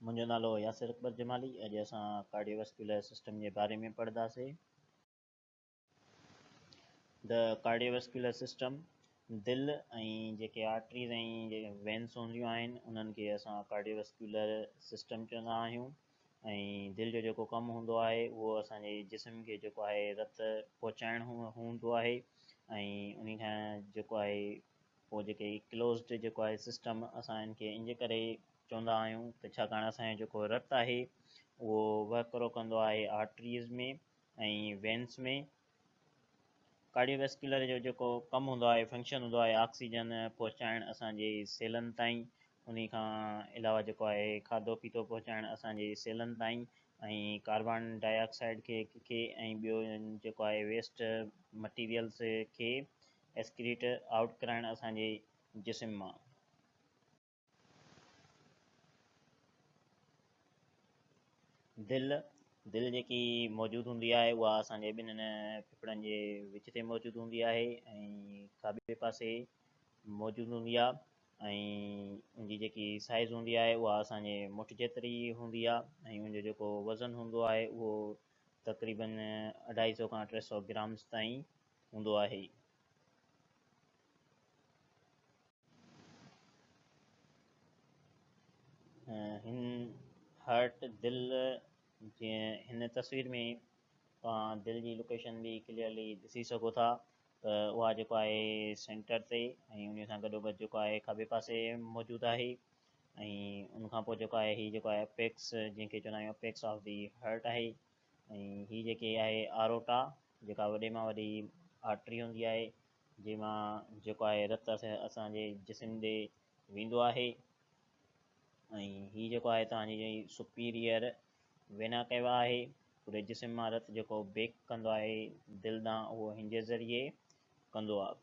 منهنجو نالو ياسر اڪبر جمالي اڄ اسان ڪارڊيو ويسڪيولر سسٽم جي باري ۾ پڙهنداسين د ڪارڊيو ويسڪيولر سسٽم دل ۽ جيڪي آرٽريز ۽ جيڪي وينس هونديون آهن انهن کي اسان ڪارڊيو ويسڪيولر سسٽم چوندا آهيون ۽ دل جو جيڪو ڪم هوندو آهي اهو اسانجي جسم کي جيڪو آهي رت پهچائڻ هوندو آهي ۽ ان کان جيڪو آهي پوء جيڪي هي ڪلوزڊ جيڪو آهي سسٽم اسان ان کي انجي ڪري چوندا آهيون ته ڇاڪاڻ اسان جو جيڪو رت آهي اهو وهڪرو ڪندو آهي آرٽريز ۾ ۽ وينس ۾ ڪارڊيو ويسڪيولر جو جيڪو ڪم هوندو آهي فنڪشن هوندو آهي آڪسيجن پهچائڻ اسان جي سيلن تائين انهي کان علاوه جيڪو آهي کاڌو پيتو پهچائڻ اسان جي سيلن تائين ۽ ڪاربان ڊاء آڪسائيڊ کي کي ۽ ٻيو جيڪو آهي ويسٽ مٽيريلز کي اسڪريٽ آئوٽ ڪرائڻ اسان جي جسم مان. دل، دل جيڪي موجود هوندي آهي اها اسان جي ٻنهن ڦڦڙن جي وچ تي موجود هوندي آهي ۽ کاٻي پاسي موجود هوندي آهي ۽ ان جي جيڪي سائز هوندي آهي اها اسان جي مٺ جيتري هوندي آهي ۽ ان جو جيڪو وزن هوندو آهي اهو تقريبن اڍائي سو کان ٽي سو گرامز تائين هوندو آهي. هن هارٽ دل جيئن هن تصوير ۾ توهان دل جي لوڪيشن به ڪليئرلي ڏسي سگهو ٿا ته اها جيڪو آهي سينٽر تي ۽ ان سان گڏو گڏ جيڪو آهي کاٻي پاسي موجود آهي ۽ ان کان پوء جيڪو آهي هي جيڪو آهي اپيڪس جنهن کي چوندا آهيون اپيڪس آف دي هارٽ آهي ۽ هي جيڪي آهي آروٽا جيڪا وڏي مان وڏي آرٽري هوندي آهي جنهن مان جيڪو آهي رت اسان جي جسم ڏي ويندو آهي ۽ هي جيڪو آهي توهان جي سپيريئر وينا ڪيوا آهي پوري جسم مان رت جيڪو بيڪ ڪندو آهي دل ڏانهن اهو هن جي ذريعي ڪندو آهي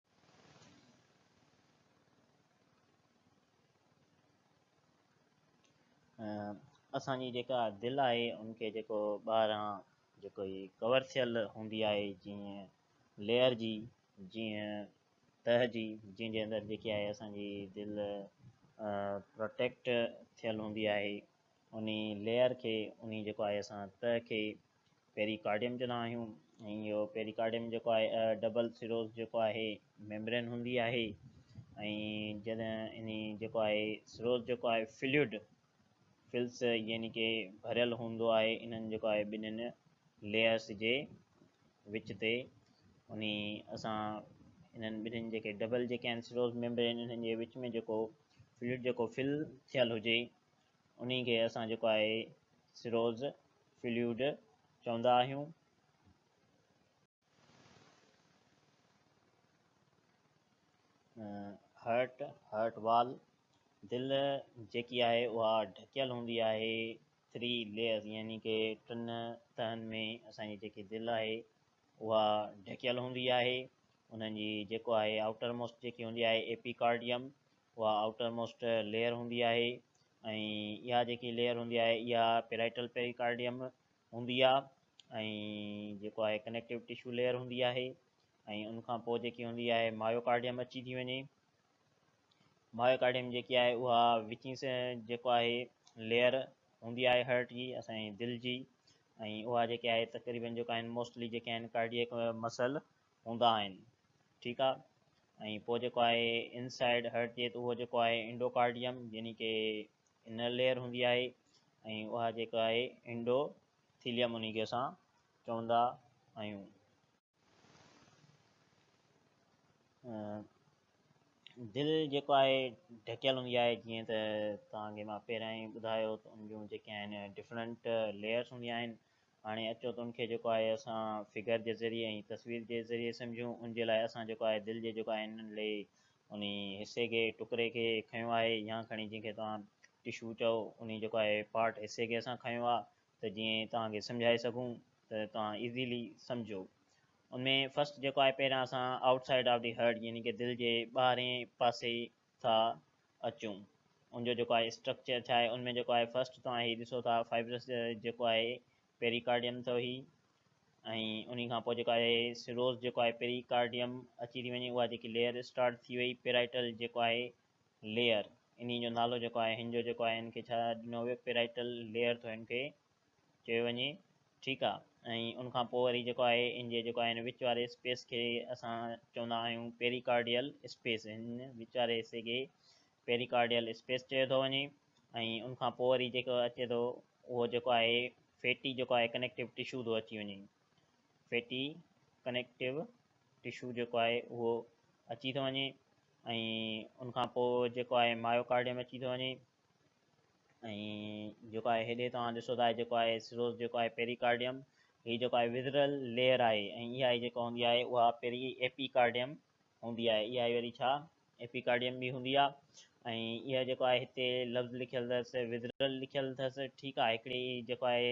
اسان جي جيڪا دل آهي ان کي جيڪو ٻاهران جيڪو هي ڪور ٿيل هوندي آهي جيئن ليئر جي جيئن تهه جي جنهن جي اندر جيڪي آهي اسان جي دل پروٽيڪٽ ٿيل هوندي آهي ان ليئر کي ان جيڪو آهي اسان تهه کي پيريڪارڊيم چوندا آهيون ۽ اهو پيريڪارڊيم جيڪو آهي ڊبل سروس جيڪو آهي ميمبرين هوندي آهي ۽ جڏهن ان جيڪو آهي سروس جيڪو آهي فلوئڊ فلس يعني ڪي ڀريل هوندو آهي انهن جيڪو آهي ٻنهين ليئرس جي وچ تي ان اسان انهن ٻنهين جيڪي ڊبل جيڪي آهن سروس ميمبرين انهن جي وچ ۾ جيڪو فلوئڊ جيڪو فل ٿيل هجي انهي کي اسان جيڪو آهي سروز فلوئڊ چوندا آهيون. هرٽ، Heart Wall، دل جيڪي آهي اها ڍڪيل هوندي آهي ٿري ليئرز يعني ڪي ٽن تهن ۾ اسان جي جيڪي دل آهي اها ڍڪيل هوندي آهي انهن جي جيڪو آهي آئوٽر موسٽ جيڪي هوندي آهي ايپي ڪارڊيم اها آئوٽر موسٽ ليئر هوندي آهي ۽ اها جيڪي ليئر هوندي آهي اها پيرائٽل پيريڪارڊيم هوندي آهي ۽ جيڪو آهي ڪنيڪٽو ٽشو ليئر هوندي آهي ۽ ان کان پوء جيڪي هوندي آهي مايوڪارڊيم اچي ٿي وڃي مايوڪارڊيم جيڪي آهي اها وچين سي جيڪو آهي ليئر هوندي آهي هارٽ جي اسانجي دل جي ۽ اها جيڪي آهي تقريبن جيڪا آهن موسٽلي جيڪي آهن ڪارڊيڪ مسل هوندا آهن ٺيڪ آ ۽ پوء جيڪو آهي ان سائيڊ هرٽ ٿئي ته اهو جيڪو آهي انڊوڪارڊيم يعني ڪي انر ليئر هوندي آهي ۽ اها جيڪو آهي انڊو ٿيليم انهي کي اسان چوندا آهيون دل جيڪو آهي ڍڪيل هوندي آهي جيئن ته تان کي مان پهريان ئي ٻڌايو ته ان جون جيڪي آهن ڊفرنٽ ليئرس هوندي آهن هاڻي اچو ته ان کي جيڪو آهي اسان فگر جي ذريعي ۽ تصوير جي ذريعي سمجهون. ان جي لاء اسان جيڪو آهي دل جي جيڪو آهي ننڍڙي انهي حصي کي، ٽڪري کي کنيو آهي يا کڻي جنهن کي توهان ٽشو چئو انهي جيڪو آهي پارٽ حصي کي اسان کنيو آ ته جيئن توهان کي سمجهائي سگهون ته توهان ايزيلي سمجهو. ان ۾ فرسٽ جيڪو آهي پهريان اسان outside of the heart يعني ڪه دل جي ٻاهرين پاسي ٿا اچون ان جو جيڪو آهي اسٽرڪچر ڇا آهي ان ۾ جيڪو آهي فرسٽ توهان هي ڏسو ٿا فائبرس جيڪو آهي پيريڪارڊيم اٿو هي ۽ ان کان پوء جيڪو آهي سروز جيڪو آهي پيريڪارڊيم اچي ٿي وڃي اها جيڪي ليئر اسٽارٽ ٿي وئي پيرائٽل جيڪو آهي ليئر ان جو نالو جيڪو آهي هن جو جيڪو آهي هن کي ڇا ڏنو ويو پيرائٽل ليئر ٿو هن کي چيو وڃي ٺيڪ آ ۽ ان کان پوء وري جيڪو آهي ان جي جيڪو آهي ان وچ واري اسپيس کي اسان چوندا آهيون پيريڪارڊيل اسپيس ان وچ واري حصي کي پيريڪارڊيل اسپيس چيو ٿو وڃي ۽ ان کان پوء وري جيڪو اچي ٿو اهو جيڪو آهي فيٽي جيڪو آهي ڪنيڪٽو ٽشو ٿو اچي وڃي فيٽي ڪنيڪٽو ٽشو جيڪو آهي اهو اچي ٿو وڃي ۽ ان کان پوء جيڪو آهي مايوڪارڊيم اچي ٿو وڃي ۽ جيڪو آهي هيڏي توهان ڏسو ٿا جيڪو آهي سروس جيڪو آهي پيريڪارڊيم هي جيڪو آهي وزرل ليئر آهي ۽ اها آهي جيڪا هوندي آهي اها پيري ايپيڪارڊيم هوندي آهي اها آهي وري ڇا ايپيڪارڊيم به هوندي آهي ۽ اها جيڪو آهي هتي لفظ لکيل اٿس وزرل لکيل اٿس ٺيڪ آهي هڪڙي جيڪو آهي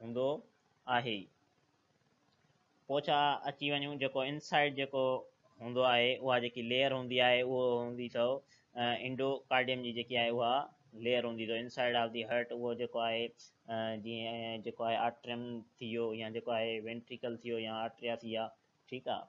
هوندو آهي ئي. پوچا اچي وڃون جيڪو انسائيڊ جيڪو هوندو آهي اها جيڪي ليئر هوندي آهي اهو هوندي اٿو انڊو ڪارڊيم جي جيڪي آهي اها ليئر هوندي اٿو انسائيڊ آف دي هرٽ اهو جيڪو آهي جي جيڪو آهي آرٽريم ٿي ويو يا جيڪو آهي وينٽريڪل ٿي ويو يا آرٽريا ٿي ويا ٺيڪ آهي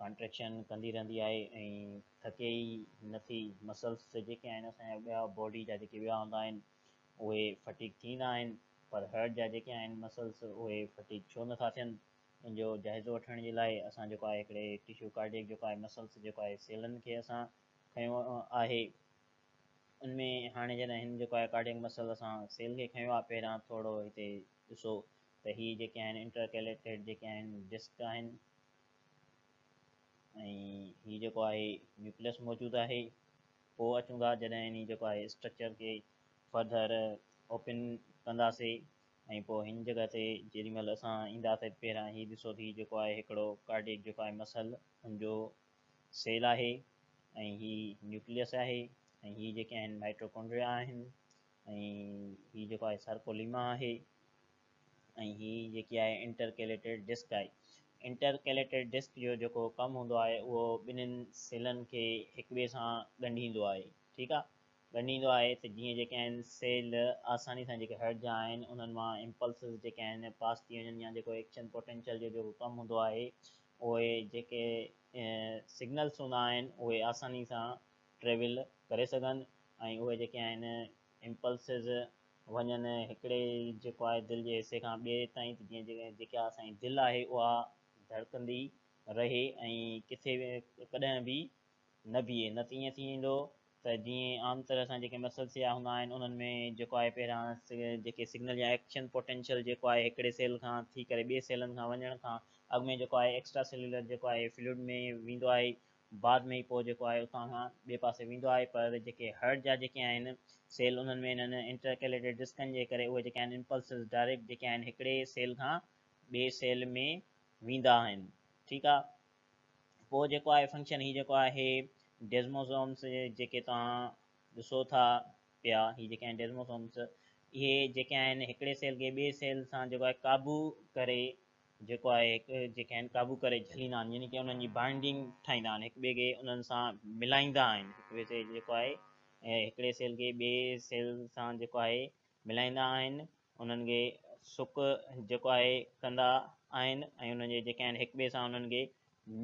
ڪانٽريڪشن ڪندي رهندي آهي ۽ ٿڪي ئي نه ٿي مسلس جيڪي آهن اسان جا ٻيا باڊي جا جيڪي ٻيا هنڌ آهن اهي فٽيگ ٿيندا آهن پر هرٽ جا جيڪي آهن مسلس اهي فٽيگ ڇو نه ٿا ٿين ان جو جائزو وٺڻ جي لاء اسان جيڪو آهي هڪڙي ٽشو ڪارڊيڪ جيڪو آهي مسلس جيڪو آهي سيلن کي اسان کنيو آهي ان ۾ هاڻي جڏهن هن جيڪو آهي ڪارڊيڪ مسل اسان سيل کي کنيو آهي پهريان ٿورو هتي ڏسو ته هي جيڪي آهن انٽرڪيليٽيڊ جيڪي آهن ڊسڪ آهن ۽ هي جيڪو آهي نيوڪليس موجود آهي پوء اچون ٿا جڏهن هن جيڪو آهي اسٽرڪچر کي فردر اوپن ڪنداسي ۽ پوء هن جڳهه تي جيڏي مهل اسان اينداسي پهريان هي ڏسو ٿي جيڪو آهي هڪڙو ڪارڊيڪ جيڪو آهي مسل ان جو سيل آهي ۽ هي نيوڪليس آهي ۽ هي جيڪي آهن مائٽروڪونڊريا آهن ۽ هي جيڪو آهي سرڪوليما آهي ۽ هي جيڪي آهي انٽر ڪيليٽيڊ ڊسڪ آهي انٽر ڪيليٽيڊ ڊسڪ جو جيڪو ڪم هوندو آهي اهو ٻنهن سيلن کي هڪ ٻئي سان ڳنڍيندو آهي ٺيڪ آهي ڳنڍيندو آهي ته جيئن جيڪي آهن سيل آساني سان جيڪي هرٽ جا آهن انهن مان امپلسز جيڪي آهن پاس ٿي وڃن يا جيڪو ايڪشن پوٽينشل جو جيڪو ڪم هوندو آهي اهي جيڪي سگنلس هوندا آهن اهي آساني سان ٽريول ڪري سگهن ۽ اهي جيڪي آهن امپلسز وڃن هڪڙي جيڪو آهي دل جي حصي کان ٻئي تائين ته جيئن جيڪا اسان جي دل آهي اها ڌڙڪندي رهي ۽ ڪٿي به ڪڏهن به نه بيهي نه ته ائين ٿي ويندو ته جيئن عام طرح سان جيڪي مسل سيا هوندا آهن انهن ۾ جيڪو آهي پهريان جيڪي سگنل يا ايڪشن پوٽينشل جيڪو آهي هڪڙي سيل کان ٿي ڪري ٻئي سيلن کان وڃڻ کان اڳ ۾ جيڪو آهي ايڪسٽرا سيلولر جيڪو آهي فلوئڊ ۾ ويندو آهي بعد ۾ ئي پوء جيڪو آهي اتان کان ٻئي پاسي ويندو آهي پر جيڪي هرٽ جا جيڪي آهن سيل انهن ۾ انهن انٽرڪيليٽيڊ ڊسڪن جي ڪري اهي جيڪي آهن امپلسز ڊائريڪٽ جيڪي آهن هڪڙي سيل کان ٻئي سيل ۾ ويندا آهن ٺيڪ آهي پوء جيڪو آهي فنڪشن هي جيڪو آهي ڊيزموسومس جيڪي توهان ڏسو ٿا پيا هي جيڪي آهن ڊيزموسومس اهي جيڪي آهن هڪڙي سيل کي ٻئي سيل سان جيڪو آهي قابو ڪري جيڪو آهي هڪ جيڪي آهن قابو ڪري جهليندا آهن يعني ڪي انهن جي بائنڊنگ ٺاهيندا آهن هڪ ٻئي کي انهن سان ملائيندا آهن هڪ ٻئي کي جيڪو آهي هڪڙي سيل کي ٻئي سيل سان جيڪو آهي ملائيندا آهن انهن کي سڪ جيڪو آهي ڪندا آهن ۽ انهن جي جيڪي آهن هڪ ٻئي سان انهن کي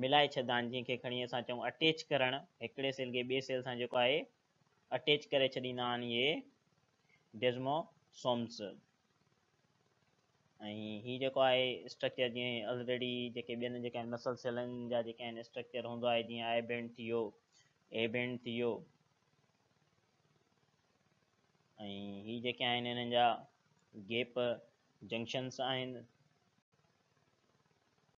ملائي ڇڏدا آهن جنهن کي کڻي اسان چئون اٽيچ ڪرڻ هڪڙي سيل کي ٻئي سيل سان جيڪو آهي اٽيچ ڪري ڇڏيندا آهن اهي ڊيزموسومز ۽ هي جيڪو آهي اسٽرڪچر جيئن الريڊي جيڪي ٻين جيڪا آهن مسل سيلن جا جيڪا آهن اسٽرڪچر هوندو آهي جيئن آئي بينڊ ٿي ويو اي بينڊ ٿي ويو ۽ هي جيڪي آهن هنن جا گيپ جنڪشنس آهن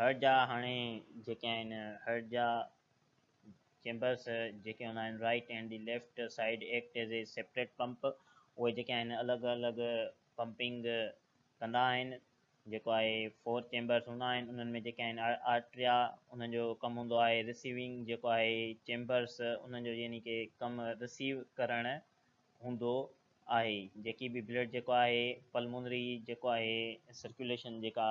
هر جا هاڻي جيڪي آهن هر جا چيمبرس جيڪي هوندا آهن right and the left side act as a separate pump اهي جيڪي آهن الڳ الڳ پمپنگ ڪندا آهن جيڪو آهي فور چيمبرس هوندا آهن انهن ۾ جيڪي آهن آرٽريا انهن جو ڪم هوندو آهي رسيونگ جيڪو آهي چيمبرس انهن جو يعني ڪي ڪم رسيو ڪرڻ هوندو آهي جيڪي به بلڊ جيڪو آهي پلمونري جيڪو آهي سرڪيوليشن جيڪا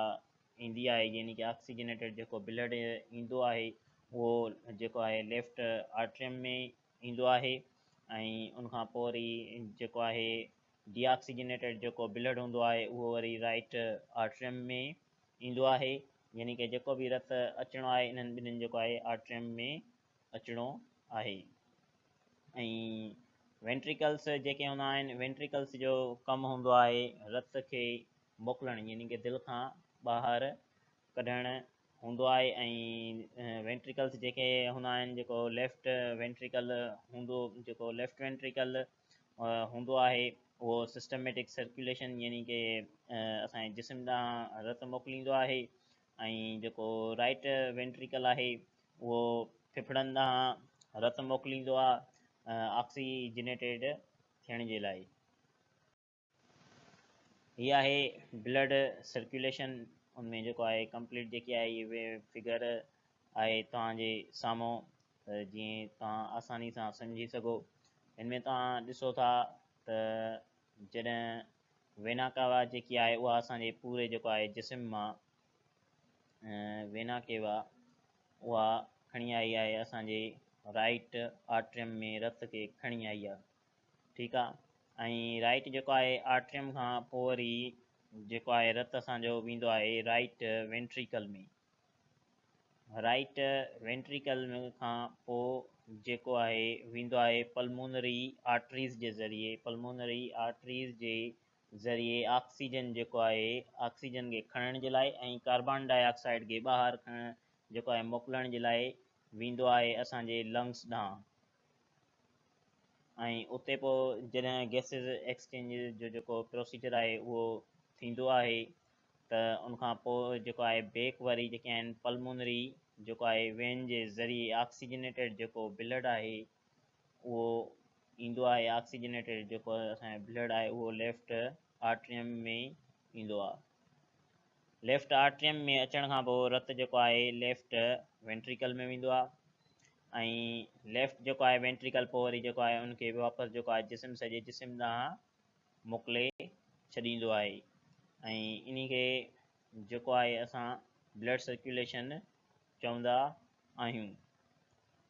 ايندي آهي يعني ڪي آڪسيجنيٽيڊ جيڪو بلڊ ايندو آهي اهو جيڪو آهي ليفٽ آرٽريم ۾ ايندو آهي ۽ ان کان پوء وري جيڪو آهي ڊي آڪسيجنيٽيڊ جيڪو بلڊ هوندو آهي اهو وري رائٽ آرٽريم ۾ ايندو آهي يعني ڪي جيڪو به رت اچڻو آهي انهن ٻنهين جيڪو آهي آرٽريم ۾ اچڻو آهي ۽ وينٽريڪلس جيڪي هوندا آهن وينٽريڪلس جو ڪم هوندو آهي رت کي موڪلڻ يعني ڪي دل کان ٻاهر ڪڍڻ هوندو آهي ۽ وينٽريڪلس جيڪي هوندا آهن جيڪو ليفٽ وينٽريڪل هوندو جيڪو ليفٽ وينٽريڪل هوندو آهي اهو سسٽميٽڪ سرڪيوليشن يعني ڪي اسان جسم ڏانهن رت موڪليندو آهي ۽ جيڪو رائٽ وينٽريڪل آهي اهو ڦڦڙن ڏانهن رت موڪليندو آهي آڪسيجنيٽيڊ ٿيڻ جي لاء. هي آهي بلڊ سرڪيوليشن ان ۾ جيڪو آهي ڪمپليٽ جيڪي آهي اهي فگر آهي توهان جي سامهون ته جيئن توهان آساني سان سمجهي سگهو ان ۾ توهان ڏسو ٿا ته جڏهن وينا ڪاوا جيڪي آهي اها اسان جي پوري جيڪو آهي جسم مان وينا ڪيوا اها کڻي آئي آهي اسان جي رائٽ آرٽريم ۾ رت کي کڻي آئي آهي ٺيڪ آهي ۽ رائٽ جيڪو آهي آرٽريم کان پوء وري جيڪو آهي رت اسان جو ويندو آهي رائٽ وينٽريڪل ۾ رائٽ وينٽريڪل کان پوء جيڪو آهي ويندو آهي پلمونري آرٽريز جي ذريعي پلمونري آرٽريز جي ذريعي آڪسيجن جيڪو آهي آڪسيجن کي کڻڻ جي لاء ۽ ڪاربان ڊاء آڪسائيڊ کي ٻاهر کڻڻ جيڪو آهي موڪلڻ جي لاء ويندو آهي اسان جي لنگس ڏانهن ۽ اتي پوء جڏهن گيسز ايڪسچينج جو جيڪو پروسيجر آهي اهو ٿيندو آهي ته ان کان پوء جيڪو آهي بيڪ وري جيڪي آهن پلمونري جيڪو آهي وين جي ذريعي آڪسيجنيٽيڊ جيڪو بلڊ آهي اهو ايندو آهي آڪسيجنيٽيڊ جيڪو اسان جو بلڊ آهي اهو ليفٽ آرٽريم ۾ ايندو آهي ليفٽ آرٽريم ۾ اچڻ کان پوء رت جيڪو آهي ليفٽ وينٽريڪل ۾ ويندو آهي ۽ ليفٽ جيڪو آهي وينٽريڪل پوء وري جيڪو آهي ان کي واپس جيڪو آهي جسم سڄي جسم ڏانهن موڪلي ڇڏيندو آهي ۽ ان کي جيڪو آهي اسان بلڊ سرڪيوليشن چوندا آهيون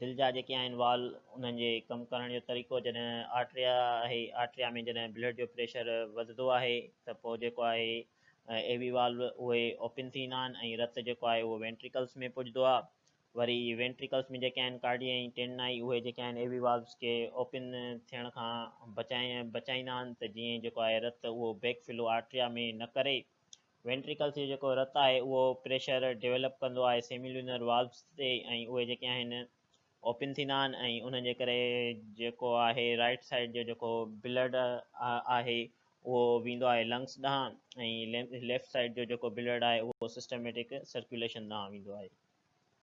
دل جا جيڪي آهن وال انهن جي ڪم ڪرڻ جو طريقو جڏهن آرٽريا آهي آرٽريا ۾ جڏهن بلڊ جو پريشر وڌندو آهي ته پوء جيڪو آهي اي وي وال اهي اوپن ٿيندا آهن ۽ رت جيڪو آهي اهو وينٽريڪلس ۾ پڄندو آهي وري وينٽريڪلس ۾ جيڪي آهن ڪارڊي ۽ ٽين آئي اهي جيڪي آهن اي وي والس کي اوپن ٿيڻ کان بچائي بچائيندا آهن ته جيئن جيڪو آهي رت اهو بيڪ فلو آرٽريا ۾ نه ڪري وينٽريڪلس جو جيڪو رت آهي اهو پريشر ڊيولپ ڪندو آهي سيميلونر والوز تي ۽ اهي جيڪي آهن اوپن ٿيندا آهن ۽ انهن جي ڪري جيڪو آهي رائٽ سائيڊ جو جيڪو بلڊ آهي اهو ويندو آهي لنگس ڏانهن ۽ ليفٽ سائيڊ جو جيڪو بلڊ آهي اهو سسٽميٽڪ سرڪيوليشن ڏانهن ويندو آهي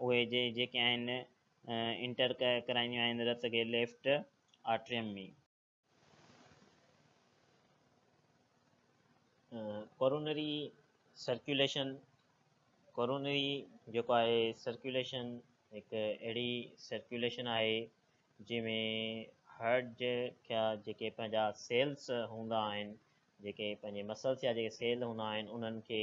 اهي جي جيڪي آهن انٽر ڪرائينديون آهن رت کي left atrium ۾. Coronary circulation, coronary جيڪو آهي سرڪيوليشن هڪ اهڙي سرڪيوليشن آهي جنهن ۾ هارٽ جي کيا جيڪي پنهنجا سيلس هوندا آهن جيڪي پنهنجي مسلس يا جيڪي سيل هوندا آهن انهن کي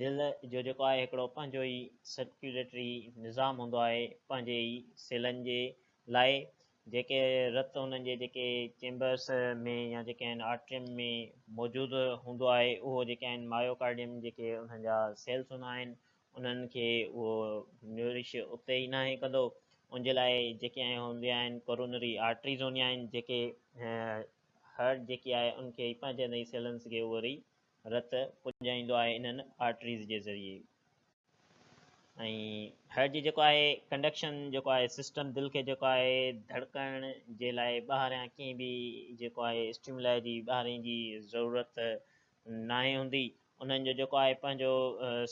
دل جو جيڪو آهي هڪڙو پنهنجو ئي سرڪيوليٽري نظام هوندو آهي پنهنجي ئي سيلن جي لاء جيڪي رت انهن جي جيڪي چيمبرس ۾ يا جيڪي آهن آرٽريم ۾ موجود هوندو آهي اهو جيڪي آهن مايوڪارڊيم جيڪي انهن جا سيلس هوندا آهن انهن کي اهو نورش اتي ئي ناهي ڪندو ان جي لاء جيڪي آهن هونديون آهن ڪورونري آرٽريز هونديون آهن جيڪي هارٽ جيڪي آهي ان کي پنهنجن ئي سيلنس کي اهو ري رت پڄائيندو آهي انهن آرٽريز جي ذريعي ۽ هارٽ جي جيڪو آهي ڪنڊڪشن جيڪو آهي سسٽم دل کي جيڪو آهي ڌڙڪڻ جي لاء ٻاهريان ڪنهن به جيڪو آهي اسٽيملا جي ٻاهرين جي ضرورت ناهي هوندي انهن جو جيڪو آهي پنهنجو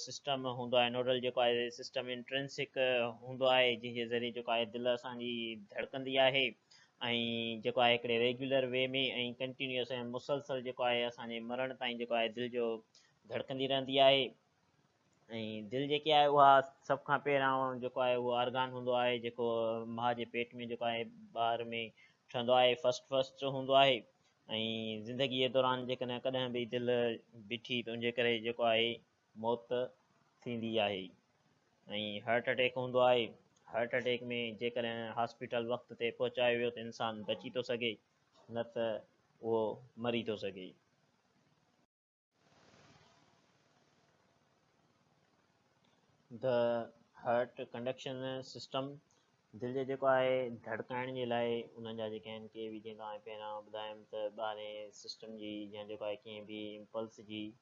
سسٽم هوندو آهي نوڊل جيڪو آهي سسٽم انٽرنسڪ هوندو آهي جنهن جي ذريعي جيڪو آهي دل اسان جي ڌڙڪندي آهي ۽ جيڪو آهي هڪڙي ريگيولر وي ۾ ۽ ڪنٽينيوس ۽ مسلسل جيڪو آهي اسان جي مرڻ تائين جيڪو آهي دل جو ڌڙڪندي رهندي آهي ۽ دل جيڪي آهي اها سڀ کان پهريان جيڪو آهي اهو آرگان هوندو آهي جيڪو ماء جي پيٽ ۾ جيڪو آهي ٻار ۾ ٺهندو آهي فرسٽ فرسٽ هوندو آهي ۽ زندگي دوران جيڪڏهن ڪڏهن به دل بيٺي ته ان جي ڪري جيڪو آهي موت ٿيندي آهي ۽ هارٽ اٽيڪ هوندو آهي هارٽ اٽيڪ ۾ جيڪڏهن هاسپيٽل وقت تي پهچايو ويو ته انسان بچي ٿو سگهي نه ته اهو مري ٿو سگهي. The Heart Conduction System دل جو جيڪو آهي ڌڙڪائڻ جي لاء انهن جا جيڪي آهن ڪي به جيئن توهان کي پهريان ٻڌايم ته ٻاهرين سسٽم جي يا جيڪو آهي ڪنهن به امپلس جي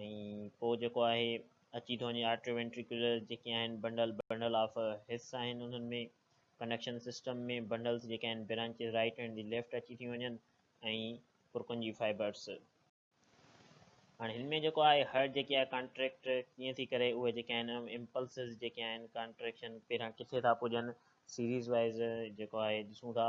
۽ پوء جيڪو آهي اچي ٿو وڃي آرٽريو وينٽريڪولر جيڪي آهن بنڊل بنڊل آف حص آهن انهن ۾ ڪنيڪشن سسٽم ۾ بنڊلز جيڪي آهن branches right and the left اچي ٿي وڃن ۽ پرڪن جي فائبرز هاڻي هن ۾ جيڪو آهي هر جيڪي آهي ڪانٽريڪٽ ڪيئن ٿي ڪري اهي جيڪي آهن امپلسز جيڪي آهن ڪانٽريڪشن پهريان ڪٿي ٿا پڄن سيريز وائز جيڪو آهي ڏسون ٿا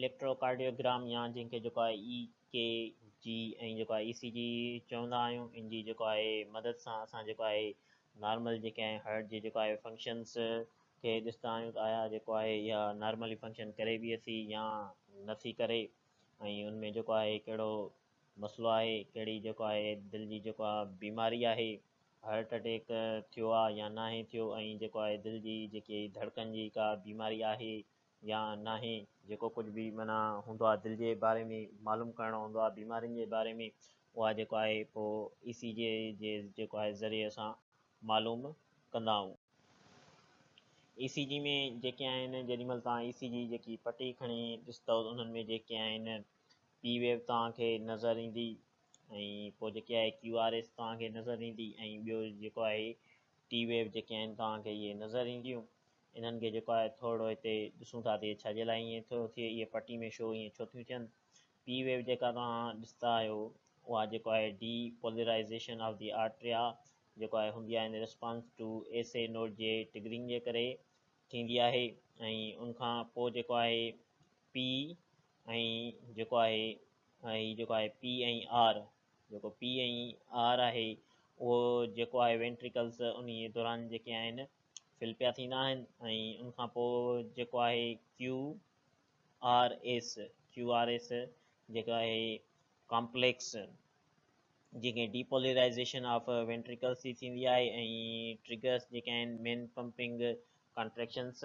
اليڪٽروڪارڊيوگرام يا جنهن کي جيڪو آهي اي ڪي جي ۽ جيڪو آهي اي سي جي چوندا آهيون ان جي جيڪو آهي مدد سان اسان جيڪو آهي نارمل جيڪي آهي هارٽ جي جيڪو آهي فنڪشنس کي ڏسندا آهيون ته آيا جيڪو آهي اها نارملي فنڪشن ڪري بي اي سي يا نٿي ڪري ۽ ان ۾ جيڪو آهي ڪهڙو مسئلو آهي ڪهڙي جيڪو آهي دل جي جيڪو آهي بيماري آهي هارٽ اٽيڪ ٿيو آهي يا ناهي ٿيو ۽ جيڪو آهي دل جي جيڪي ڌڙڪن جي ڪا بيماري آهي يا ناهي جيڪو ڪجهه به معنيٰ هوندو آهي دل جي باري ۾ معلوم ڪرڻو هوندو آهي بيمارين جي باري ۾ اها جيڪو آهي پوء اي سي جي جي جيڪو آهي ذريعي اسان معلوم ڪندا آهيون اي سي جي ۾ جيڪي آهن جيڏي مهل تان اي سي جي جيڪي پٽي کڻي ڏستو انهن ۾ جيڪي آهن پي ويو توهان کي نظر ايندي ۽ پوء جيڪي آهي ڪيو آر ايس توهان کي نظر ايندي ۽ ٻيو جيڪو آهي ٽي ويو جيڪي آهن توهان کي اهي نظر اينديون انهن کي جيڪو آهي ٿورڙو هتي ڏسون ٿا ته ڇا جي لاء ائين ٿو ٿئي اهي پٽي ۾ شو ائين ڇو ٿيون ٿين پي ويو جيڪا توهان ڏسندا آهيو اها جيڪو آهي depolarization of the atria جيڪو آهي هوندي آهي in response to A C note جي ٽگرنگ جي ڪري ٿيندي آهي ۽ ان کان پوء جيڪو آهي پي ۽ جيڪو آهي هي جيڪو آهي پي ۽ آر جيڪو پي ۽ آر آهي اهو جيڪو آهي وينٽريڪلس ان دوران جيڪي آهن فل پيا ٿيندا آهن ۽ ان کان پوء جيڪو آهي Q R S Q R S جيڪو آهي ڪامپليڪس جيڪي ڊيپولرائزيشن آف وينٽريڪلس ٿي ٿيندي آهي ۽ ٽريگرس جيڪي آهن main pumping contractions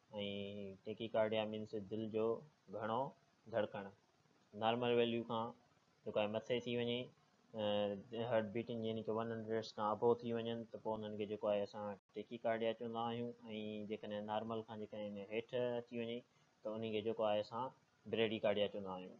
۽ Tachycardia means دل جو گهڻو ڌڙڪڻ نارمل ويليو کان جيڪو آهي مٿي ٿي وڃي هارٽ بيٽنگ يعني ڪي ون هنڊريڊس کان ابو ٿي وڃن ته پوء انهن کي جيڪو آهي اسان ٽيڪي ڪارڊيا چوندا آهيون ۽ جيڪڏهن نارمل کان جيڪڏهن هيٺ اچي وڃي ته انهي کي جيڪو آهي اسان بريڊي ڪارڊيا چوندا آهيون.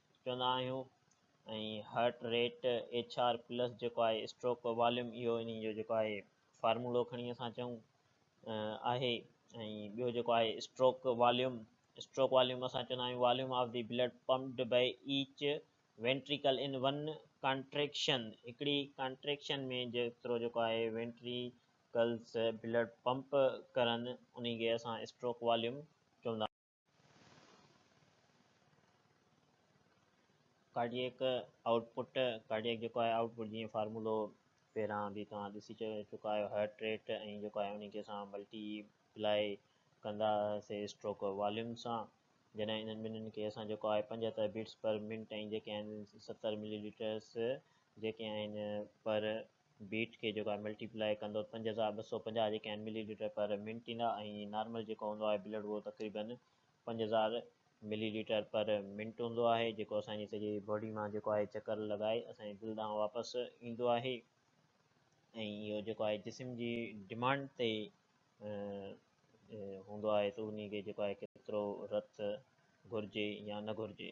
چوندا آهيون ۽ heart rate H R plus جيڪو آهي اسٽروڪ واليوم اهو انهي جو جيڪو آهي فارمولو کڻي اسان چئون آهي ۽ ٻيو جيڪو آهي اسٽروڪ واليوم اسٽروڪ واليوم اسان چوندا آهيون volume of the blood pumped by each ventricle in one contraction هڪڙي ڪانٽريڪشن ۾ جيترو جيڪو آهي وينٽريڪلس بلڊ پمپ ڪرن انهي کي اسان اسٽروڪ واليوم چوندا ڪارڊيئڪ آئوٽ پٽ ڪارڊيئڪ جيڪو آهي آئوٽ پٽ جيئن فارمولو پهران به توهان ڏسي چڪا آهيو هارٽ ريٽ ۽ جيڪو آهي ان کي اسان ملٽي پلائي ڪندا سي اسٽروڪ واليوم سان جڏهن انهن ٻنهن کي اسان جيڪو آهي پنجهتر بيٽس پر منٽ ۽ جيڪي آهن ستر ملي ليٽرس جيڪي آهن پر بيٽ کي جيڪو آهي ملٽي پلائي ڪندو پنج هزار ٻه سؤ پنجاهه جيڪي آهن ملي ليٽر پر منٽ ايندا ۽ نارمل جيڪو هوندو آهي بلڊ اهو تقريبن پنج هزار ملي ليٽر پر منٽ هوندو آهي جيڪو اسان جي سڄي باڊي مان جيڪو آهي چڪر لڳائي اسان جي دل ڏانهن واپس ايندو آهي ۽ اهو جيڪو آهي جسم جي ڊيمانڊ تي هوندو آهي ته انهي کي جيڪو آهي ڪيترو رت گهرجي يا نه گهرجي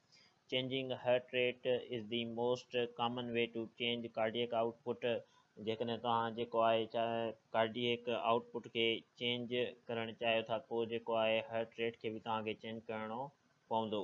changing heart rate is the most common way to change cardiac out پٽ جيڪڏهن توهان جيڪو آهي ڪارڊيئڪ آئوٽ پٽ کي چينج ڪرڻ چاهيو ٿا پوء جيڪو آهي هرٽ ريٽ کي به توهان کي چينج ڪرڻو پوندو.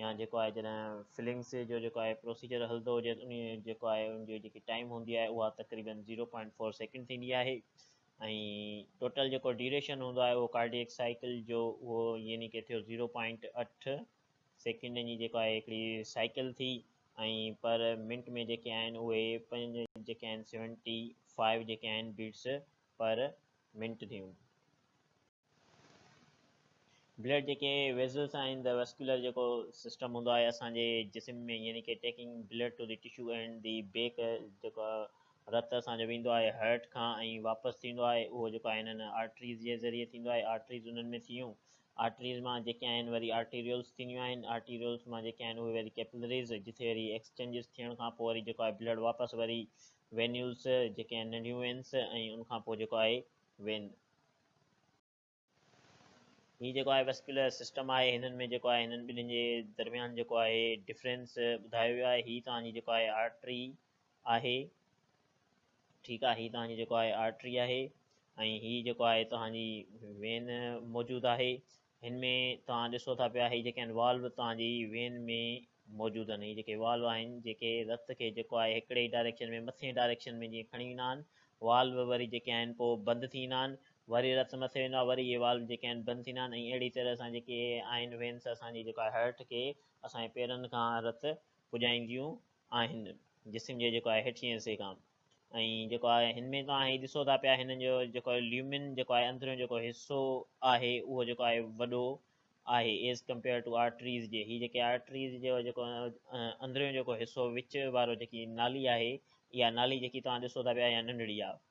يا جيڪو آهي جڏهن فلنگس جو جيڪو آهي پروسيجر هلندو هجي ته انهي جيڪو آهي ان جي جيڪي ٽائيم هوندي آهي اها تقريبن زيرو پوائنٽ فور سيڪنڊ ٿيندي آهي ۽ ٽوٽل جيڪو ڊيوريشن هوندو آهي اهو ڪارڊيڪ سائيڪل جو اهو يعني ڪي ٿيو زيرو پوائنٽ اٺ سيڪنڊن جي جيڪو آهي هڪڙي سائيڪل ٿي ۽ پر منٽ ۾ جيڪي آهن اهي پنج جيڪي آهن سيونٽي فائيو جيڪي آهن بيٽس پر منٽ ٿيون بلڊ جيڪي ويزلز آهن ته ويسڪيولر جيڪو سسٽم هوندو آهي اسان جي جسم ۾ يعني ڪي taking blood to the tissue and the back جيڪو رت اسان جو ويندو آهي هرٽ کان ۽ واپس ٿيندو آهي اهو جيڪو آهي هنن آرٽريز جي ذريعي ٿيندو آهي آرٽريز انهن ۾ ٿيون آرٽريز مان جيڪي آهن وري آرٽيريولس ٿينديون آهن آرٽيريولس مان جيڪي آهن اهي وري ڪيپلريز جتي وري ايڪسچينجز ٿيڻ کان پوء وري جيڪو آهي بلڊ واپس وري وينيولس جيڪي آهن ننڍيون وينس ۽ ان کان پوء جيڪو آهي وين هي جيڪو آهي ويسڪيولر سسٽم آهي هنن ۾ جيڪو آهي هنن ٻنهين جي درميان جيڪو آهي ڊفرنس ٻڌايو ويو آهي هي توهان جي جيڪو آهي آرٽري آهي ٺيڪ آهي هي توهان جي جيڪو آهي آرٽري آهي ۽ هي جيڪو آهي توهان جي وين موجود آهي هن ۾ توهان ڏسو ٿا پيا هي جيڪي آهن والو توهان جي وين ۾ موجود آهن هي جيڪي والو آهن جيڪي رت کي جيڪو آهي هڪڙي ئي ڊائريڪشن ۾ مٿين ڊائريڪشن ۾ جيئن کڻي ويندا آهن والو وري جيڪي آهن پوء بند ٿي ويندا آهن وري رت مٿي ويندو آهي وري اهي والو جيڪي آهن بند ٿيندا آهن ۽ اهڙي طرح سان جيڪي آهن وينس اسان جي جيڪو آهي هرٽ کي اسان جي پيرن کان رت پڄائينديون آهن جسم جي جيڪو آهي هيٺئين حصي کان ۽ جيڪو آهي هن ۾ توهان هي ڏسو ٿا پيا هن جو جيڪو ليومن جيڪو آهي اندريون جيڪو حصو آهي اهو جيڪو آهي وڏو آهي ايز ڪمپيئر ٽو آرٽريز جي هي جيڪي آرٽريز جو جيڪو اندريون جيڪو حصو وچ وارو جيڪي نالي آهي اها نالي جيڪي توهان ڏسو ٿا پيا اها ننڍڙي آهي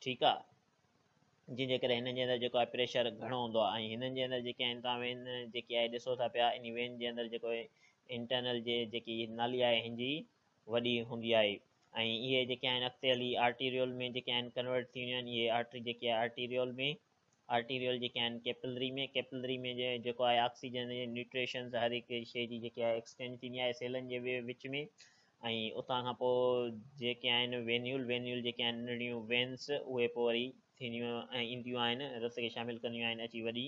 ٺيڪ آهي جن جي ڪري هن جي اندر جيڪو آهي پريشر گهڻو هوندو آهي ۽ هنن جي اندر جيڪي آهن توهان وين جيڪي آهي ڏسو ٿا پيا ان وين جي اندر جيڪو انٽرنل جي جيڪي نالي آهي هن جي وڏي هوندي آهي ۽ اهي جيڪي آهن اڳتي هلي آرٽيريول ۾ جيڪي آهن ڪنورٽ ٿي وينديون آهن اهي آرٽري جيڪي آهي آرٽيريول ۾ آرٽيريول جيڪي آهن ڪيپلري ۾ ڪيپلري ۾ جيڪو آهي آڪسيجن جي نيوٽريشنز هر هڪ شيء جي جيڪي آهي ايڪسچينج ٿيندي آهي سيلن جي وچ ۾ ۽ اتان کان پوء جيڪي آهن وينيول وينيول جيڪي آهن ننڍڙيون وينس اهي پوء وري ٿينديون ۽ اينديون آهن رت کي شامل ڪنديون آهن اچي وڏي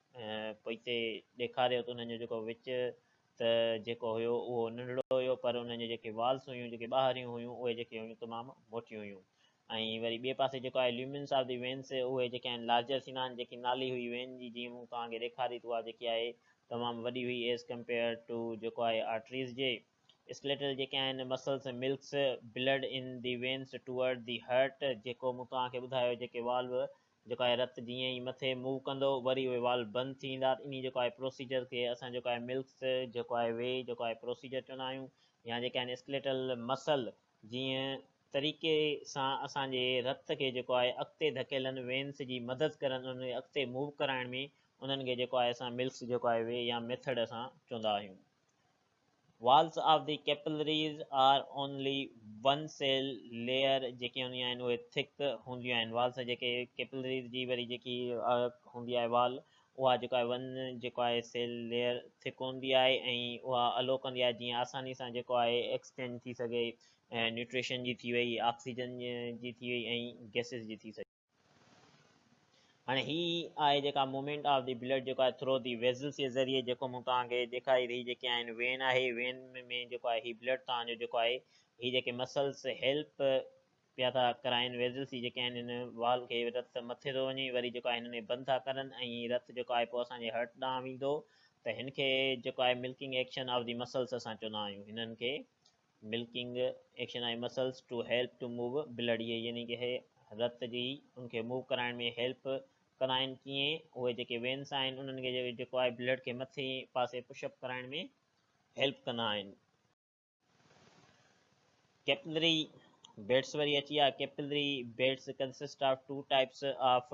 پوئتي ڏيکاريو ته انهن جو جيڪو وچ ته جيڪو هيو اهو ننڍڙو هيو پر انهن جون جيڪي والس هيون جيڪي ٻاهريون هيون اهي جيڪي هيون تمام موٽيون هيون ۽ وري ٻئي پاسي جيڪو آهي ليومنس آف دي وينس اهي جيڪي آهن لارجر ٿيندا آهن جيڪي نالي هئي وين جي جيئن مون توهان کي ڏيکاري ته اها جيڪي آهي تمام وڏي هئي ايز ڪمپيئر ٽو جيڪو آهي آرٽريز جي اسڪليٽل جيڪي آهن muscles milks blood in the veins toward the heart جيڪو مون توهان کي ٻڌايو جيڪي والو جيڪو آهي رت جيئن ئي مٿي موو ڪندو وري اهي والو بند ٿي ويندا انهي جيڪو آهي پروسيجر کي اسان جيڪو آهي ملڪس جيڪو آهي وي جيڪو آهي پروسيجر چوندا آهيون يا جيڪي آهن اسڪليٽل مسل جيئن طريقي سان اسان جي رت کي جيڪو آهي اڳتي ڌڪيلن وينس جي مدد ڪرن انهن کي اڳتي موو ڪرائڻ ۾ انهن کي جيڪو آهي اسان ملڪس جيڪو آهي وي يا ميٿڊ اسان چوندا آهيون. Walls of the capillaries are only one cell layer جيڪي هونديون آهن اهي ٿڪ هونديون آهن والس جيڪي ڪيپلريز جي وري جيڪي هوندي آهي وال اها جيڪو آهي ون جيڪو آهي سيل ليئر ٿڪ هوندي آهي ۽ اها الو ڪندي آهي جيئن آساني سان جيڪو آهي ايڪسچينج ٿي سگهي نيوٽريشن جي ٿي وئي آڪسيجن جي ٿي وئي ۽ گيسز جي ٿي سگهي هاڻي هي آهي جيڪا مومينٽ آف دي بلڊ جيڪو آهي ٿرو دي ويزلس جي ذريعي جيڪو مون توهان کي ڏيکاري هي جيڪي آهن وين آهي وين ۾ جيڪو آهي هي بلڊ توهان جو جيڪو آهي هي جيڪي مسلس هيلپ پيا ٿا ڪرائن ويزلس جي جيڪي آهن هن وال کي رت مٿي ٿو وڃي وري جيڪو آهي هن ۾ بند ٿا ڪرن ۽ رت جيڪو آهي پوء اسان جي هرٽ ڏانهن ويندو ته هن کي جيڪو آهي milking action of the muscles اسان چوندا آهيون هنن کي milking action I muscles to help to move blood اهي يعني ڪي هي رت جي ان کي موو ڪرائڻ ۾ هيلپ ڪندا آهن ڪيئن اهي جيڪي وينس آهن انهن کي جيڪو آهي بلڊ کي مٿي پاسي پش اپ ڪرائڻ ۾ هيلپ ڪندا آهن ڪيپلري بيٽس وري اچي آ capillary beds consist of two types of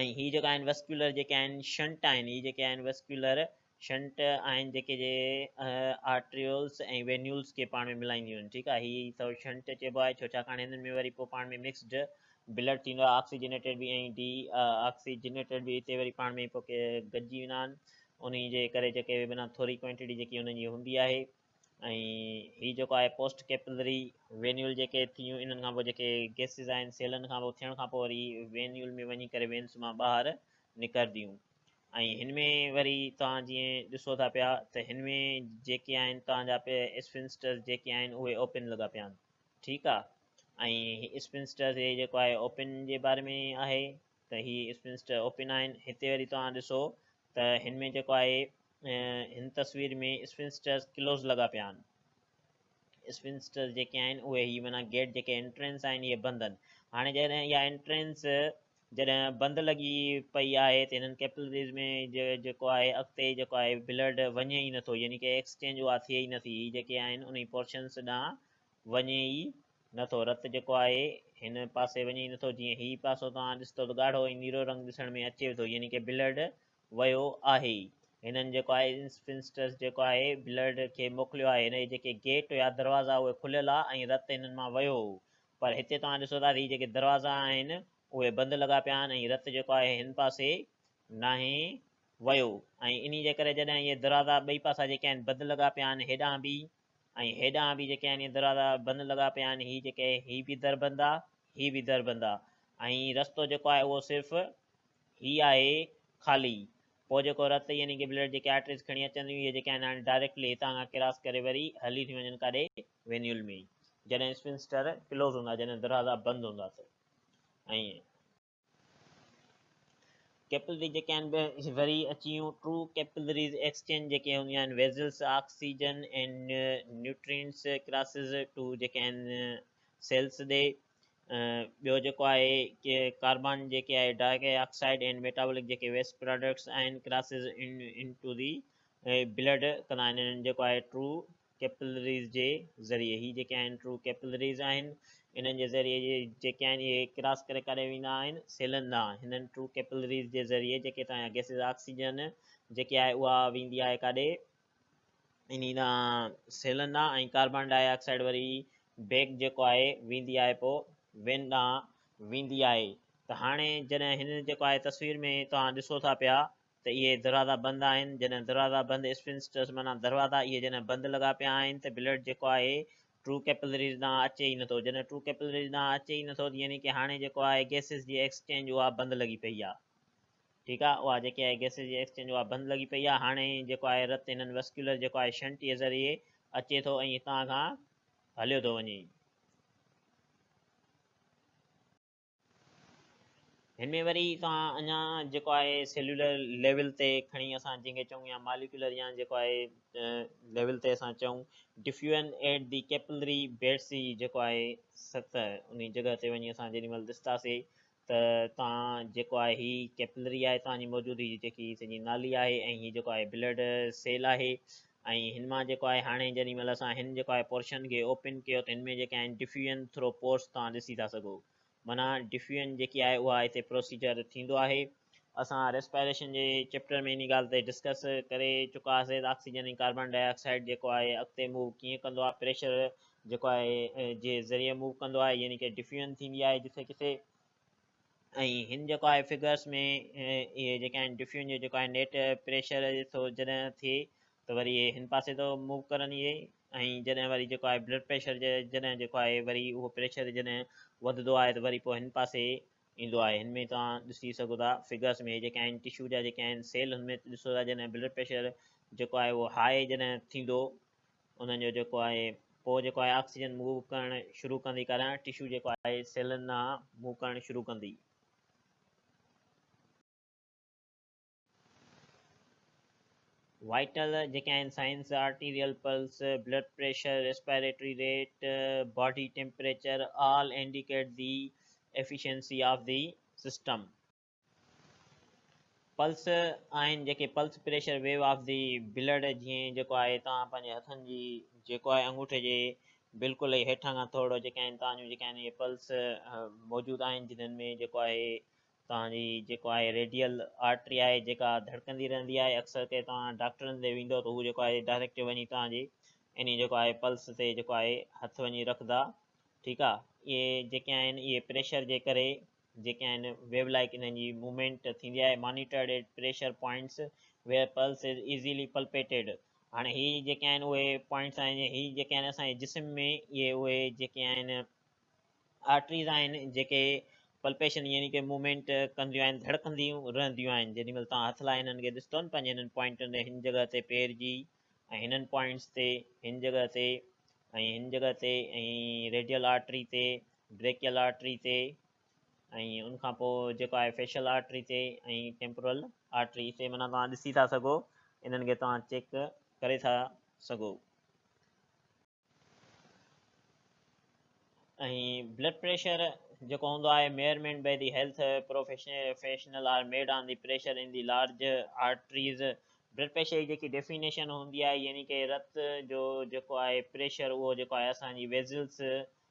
۽ هي جيڪا آهن وسڪيولر جيڪي آهن شنٽ آهن هي جيڪي آهن وسڪيولر شنٽ آهن جيڪي جي آرٽريولس ۽ وينيولس کي پاڻ ۾ ملائينديون آهن ٺيڪ آهي هي سو شنٽ چئبو آهي ڇو ڇاڪاڻ هنن ۾ وري پوء پاڻ ۾ مڪسڊ بلڊ ٿيندو آهي آڪسيجنيٽيڊ به ۽ ڊي آڪسيجنيٽيڊ به هتي وري پاڻ ۾ پوء گڏجي ويندا آهن ان جي ڪري جيڪي بنا ٿوري ڪوانٽيٽي جيڪي انهن جي هوندي آهي ۽ هي جيڪو آهي پوسٽ ڪيپلري وينيول جيڪي ٿيون انهن کان پوء جيڪي گيسز آهن سيلن کان پوء ٿيڻ کان پوء وري وينيول ۾ وڃي ڪري وينس مان ٻاهر نڪرديون ۽ هن ۾ وري توهان جيئن ڏسو ٿا پيا ته هن ۾ جيڪي آهن توهان جا اسفنسٽرز جيڪي آهن اهي اوپن لڳا پيا آهن ٺيڪ آهي ۽ اسفنسٽرز هي جيڪو آهي اوپن جي باري ۾ آهي ته هي اسپنسٽر اوپن آهن. هتي وري توهان ڏسو ته هن ۾ جيڪو آهي هن تصوير ۾ اسپنسٽرز ڪلوز لڳا پيا آهن. اسپنسٽرز جيڪي آهن اهي هي معنيٰ گيٽ جيڪي انٽرنس آهن اهي بند آهن. هاڻي جڏهن اها انٽرنس جڏهن بند لڳي پئي آهي ته هنن ڪيپلريز ۾ جيڪو آهي اڳتي جيڪو آهي بلڊ وڃي ئي نٿو يعني ڪي ايڪسچينج اها ٿئي ئي نٿي. هي جيڪي آهن انهي پورشنس ڏانهن وڃي ئي نه ٿو. رت جيڪو آهي هن پاسي وڃي ئي نه ٿو. جيئن هي پاسو توهان ڏسندو ته ڳاڙهو ۽ نيرو رنگ ڏسڻ ۾ اچيو ٿو يعني ڪي بلڊ ويو آهي. هنن جيڪو آهي انسفنسٽرس جيڪو آهي بلڊ کي موڪليو آهي. هن جي جيڪي گيٽ يا دروازا اهي کليل آ ۽ رت هنن مان ويو هو. پر هتي توهان ڏسو ٿا ته هي جيڪي دروازا آهن اهي بند لڳا پيا آهن ۽ رت جيڪو آهي هن پاسي ناهي ويو ۽ انهي جي ڪري جڏهن اهي دروازا ٻئي پاسا جيڪي آهن بند لڳا پيا آهن هيڏانهن به ۽ هيڏانهن به جيڪي آهن دروازا بند لڳا پيا آهن، هي جيڪي هي به در بند آ، هي به در بند آ، ۽ رستو جيڪو آهي اهو صرف هي آهي خالي، پوء جيڪو رت يعني ڪي بلڊ جيڪي آرٽريز کڻي اچن ٿيون اهي جيڪي آهن هاڻي ڊائريڪٽلي هتان کان ڪراس ڪري وري هلي ٿيون وڃن ڪاڏي وينيول ۾ جڏهن اسفنسٽر ڪلوز هوندا جڏهن دروازا بند هوندا ته ائين ڪيپلري جيڪي آهن به وري اچي يون ٽرو ڪيپلريز ايڪسچينج جيڪي هونديون آهن vessels oxygen and nutrients crosses to جيڪي آهن سيلز ڏي ٻيو جيڪو آهي ڪي ڪاربان جيڪي آهي ڊاڪي آڪسائيڊ اينڊ ميٽابولڪ جيڪي ويسٽ پراڊڪٽس آهن crosses into the blood ڪندا آهن جيڪو آهي ٽرو ڪيپلريز جي ذريعي هي جيڪي آهن ٽرو ڪيپلريز آهن انهن جي ذريعي جي جيڪي آهن اهي ڪراس ڪري ڪاڏي ويندا آهن سيلن ڏانهن هنن ٽرو ڪيپلريز جي ذريعي جيڪي هتان جا گيسز آڪسيجن جيڪي آهي اها ويندي آهي ڪاڏي انهي ڏانهن سيلن ڏانهن ۽ ڪاربان ڊاء آڪسائڊ وري بيگ جيڪو آهي ويندي آهي پو وين ڏانهن ويندي آهي ته هاڻي جڏهن هن جيڪو آهي تصوير ۾ توهان ڏسو ٿا پيا ته اهي دروازا بند آهن، جڏهن دروازا بند اسفنسٽرس معنيٰ دروازا اهي جڏهن بند لڳا پيا آهن ته بلڊ جيڪو آهي ٽرو ڪيپلريز ڏانهن اچي ئي نٿو، جڏهن ٽرو ڪيپلريز ڏانهن اچي ئي نٿو ته يعني ڪي هاڻي جيڪو آهي گيسز جي ايڪسچينج اها بند لڳي پئي آهي ٺيڪ آهي اها جيڪي آهي گيسز جي ايڪسچينج اها بند لڳي پئي آهي هاڻي جيڪو آهي رت هنن وسڪيولر جيڪو آهي شنٽ جي ذريعي اچي ٿو ۽ هتان کان هليو ٿو وڃي. هن ۾ وري توهان اڃا جيڪو آهي سيلولر ليول تي کڻي اسان جنهن کي چئون يا ماليڪيولر يا جيڪو آهي ليول تي اسان چئون diffusion at the capillary beds جي جيڪو آهي سطح ان جڳهه تي وڃي اسان جيڏي مهل ڏسنداسي ته توهان جيڪو آهي هي ڪيپلري آهي توهان جي موجودي جي جيڪي سڄي نالي آهي ۽ هي جيڪو آهي بلڊ سيل آهي ۽ هن مان جيڪو آهي هاڻي جيڏي مهل اسان هن جيڪو آهي پورشن کي اوپن ڪيو ته هن ۾ جيڪي آهن ڊفيوجن ٿرو پورس توهان ڏسي ٿا سگهو معنيٰ ڊفيوجن جيڪي آهي اها هتي پروسيجر ٿيندو آهي اسان ريسپائريشن جي چيپٽر ۾ انهي ڳالهه تي ڊسڪس ڪري چڪا هئاسي ته آڪسيجن ۽ ڪاربان ڊاء آڪسائيڊ جيڪو آهي اڳتي موو ڪيئن ڪندو آهي پريشر جيڪو آهي جي ذريعي موو ڪندو آهي يعني ڪي ڊفيوجن ٿيندي آهي جٿي ڪٿي ۽ هن جيڪو آهي فگرس ۾ اهي جيڪي آهن ڊفيون جو جيڪو آهي نيٽ پريشر ٿو جڏهن ٿئي ته وري اهي هن پاسي ٿو موو ڪرن اهي ۽ جڏهن وري جيڪو آهي بلڊ پريشر جڏهن جيڪو آهي وري اهو پريشر جڏهن وڌندو آهي ته وري پوء هن پاسي ايندو آهي هن ۾ توهان ڏسي سگهو ٿا فگرس ۾ جيڪي آهن ٽشو جا جيڪي آهن سيل هن ۾ ڏسو ٿا جڏهن بلڊ پريشر جيڪو آهي اهو هاء جڏهن ٿيندو انهن جو جيڪو آهي پوء جيڪو آهي آڪسيجن موو ڪرڻ شروع ڪندي ڪاريان ٽشو جيڪو آهي سيلن ڏانهن موو ڪرڻ شروع ڪندي. وائٽل جيڪي آهن signs arterial pulse blood pressure respiratory rate body temperature all indicate the efficiency of the system pulse آهن جيڪي pulse pressure wave of the blood جيئن جيڪو آهي توهان پنهنجي هٿن جي جيڪو آهي انگوٺي جي بلڪل ئي هيٺان کان ٿورڙو جيڪي آهن توهان جون جيڪي آهن اهي پلس موجود آهن جنن ۾ جيڪو آهي توهان جي جيڪو آهي ريڊيل آرٽري آهي جيڪا ڌڙڪندي رهندي آهي اڪثر ڪري توهان ڊاڪٽرن تي ويندو ته هو جيڪو آهي ڊائريڪٽ وڃي توهان جي اني جيڪو آهي پلس تي جيڪو آهي هٿ وڃي رکندا ٺيڪ آهي اهي جيڪي آهن اهي پريشر جي ڪري جيڪي آهن ويو لائيڪ انهن جي موومينٽ ٿيندي آهي monitored at pressure points where pulse is easily palpated هاڻي هي جيڪي آهن اهي پوائنٽس آهن هي جيڪي آهن اسان جي جسم ۾ اهي اهي جيڪي آهن آرٽريز آهن جيڪي پلپيشن يعني ڪي موومينٽ ڪنديون آهن ڌڙڪنديون رهنديون آهن جيڏي مهل تان هٿ لاء هنن کي ڏستون پنهنجي هنن پوائنٽن تي هن جڳهه تي پير جي ۽ هنن پوائنٽس تي، هن جڳهه تي ۽ هن جڳهه تي ۽ ريڊيل آرٽري تي، بريڪيل آرٽري تي ۽ ان کان پوء جيڪو آهي فيشل آرٽري تي ۽ ٽيمپورل آرٽري تي معنيٰ توهان ڏسي ٿا سگهو انهن کي توهان چيڪ ڪري ٿا سگهو. ۽ بلڊ پريشر جيڪو هوندو آهي measurement by the health professional are made on the pressure in the large arteries blood pressure جي جيڪي ڊيفينيشن هوندي آهي يعني ڪي رت جو جيڪو آهي پريشر اهو جيڪو آهي اسان جي ويزلس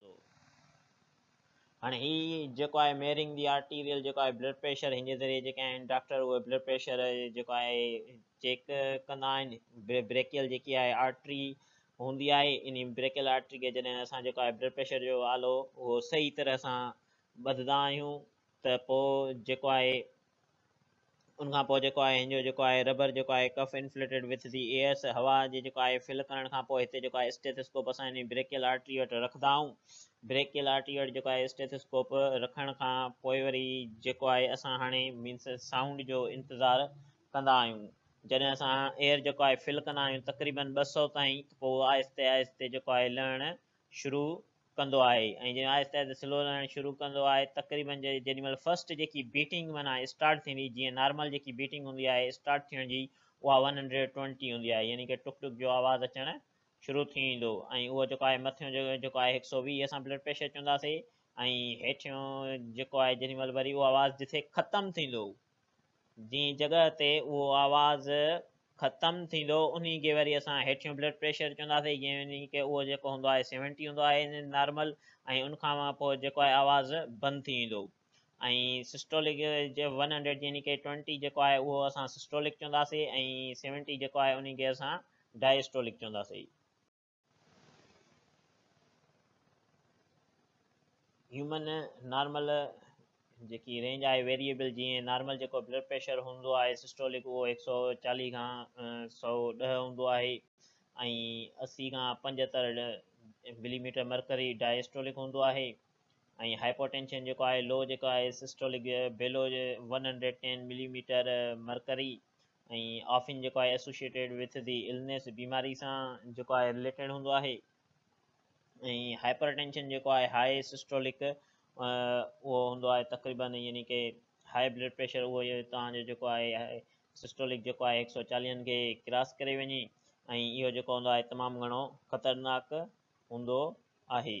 ٿو. هاڻي هي جيڪو آهي ميرنگ دي آرٽيريل جيڪو آهي بلڊ پريشر هن جي ذريعي جيڪي آهن ڊاڪٽر اهي بلڊ پريشر جيڪو آهي چيڪ ڪندا آهن بريڪيل جيڪي آهي آرٽري هوندي آهي ان بريڪيل آرٽري کي جڏهن اسان جيڪو آهي بلڊ پريشر جو آلو اهو صحيح طرح سان ٻڌدا آهيون ته پوء جيڪو آهي ان کان پوء جيڪو آهي هنجو جيڪو آهي ربر جيڪو آهي ڪف انفليٽيڊ وٿ دي ايئرس هوا جي جيڪو آهي فل ڪرڻ کان پوء هتي جيڪو آهي اسٽيٿيسڪوپ اسان انهي بريڪيل آرٽري وٽ رکندا آهون بريڪيل آرٽري وٽ جيڪو آهي اسٽيٿيسڪوپ رکڻ کان پوء وري جيڪو آهي اسان هاڻي مينس سائونڊ جو انتظار ڪندا آهيون جڏهن اسان ايئر جيڪو آهي فل ڪندا آهيون تقريبن ٻه سؤ تائين پوء آهستي آهستي جيڪو آهي لهڻ شروع ڪندو آهي ۽ جڏهن آهستي آهستي سلو رهڻ شروع ڪندو آهي تقريبن جيڏي مهل فرسٽ جيڪي بيٽنگ معنيٰ اسٽارٽ ٿيندي جيئن نارمل جيڪي بيٽنگ هوندي آهي اسٽارٽ ٿيڻ جي اها ون هنڊريڊ ٽوئنٽي هوندي آهي يعني ڪي ٽڪ ٽڪ جو آواز اچڻ شروع ٿي ويندو ۽ اهو جيڪو آهي مٿيون جيڪو آهي هڪ سؤ ويهه اسان بلڊ پريشر چونداسين ۽ هيٺيون جيڪو آهي جيڏي مهل وري اهو آواز جتي ختم ٿيندو جنهن جڳهه تي اهو آواز ختم ٿيندو انهي کي وري اسان هيٺيون بلڊ پريشر چونداسين يعني ڪه اهو جيڪو هوندو آهي سيونٽي هوندو آهي نارمل ۽ ان کان پوء جيڪو آهي آواز بند ٿي ويندو ۽ سسٽولڪ جي ون هنڊريڊ يعني ڪه ٽوئنٽي جيڪو آهي اهو اسان سسٽولڪ چونداسين ۽ سيونٽي جيڪو آهي انهي کي اسان ڊائسٽولڪ چونداسين هيومن نارمل جيڪي رينج آهي ويريبل جيئن نارمل جيڪو بلڊ پريشر هوندو آهي سسٽولڪ اهو هڪ سؤ چاليهه کان سؤ ڏهه هوندو آهي ۽ اسي کان پنجهتر ملي ميٽر مرڪري ڊائسٽولڪ هوندو آهي ۽ هائپوٽينشن جيڪو آهي لو جيڪو آهي systolic below one hundred ten millimeter مرڪري ۽ آفين جيڪو آهي Associated with the Illness بيماري سان جيڪو آهي رليٽيڊ هوندو آهي ۽ هائپر ٽينشن جيڪو آهي هاء سسٽولڪ اهو هوندو آهي تقريبن يعني کہ هاء بلڊ پريشر اهو تان جو جيڪو آهي سسٽولڪ جيڪو آهي 140 کي ڪراس ڪري وڃي ۽ اهو جيڪو هوندو آهي تمام گھڻو خطرناڪ هوندو آهي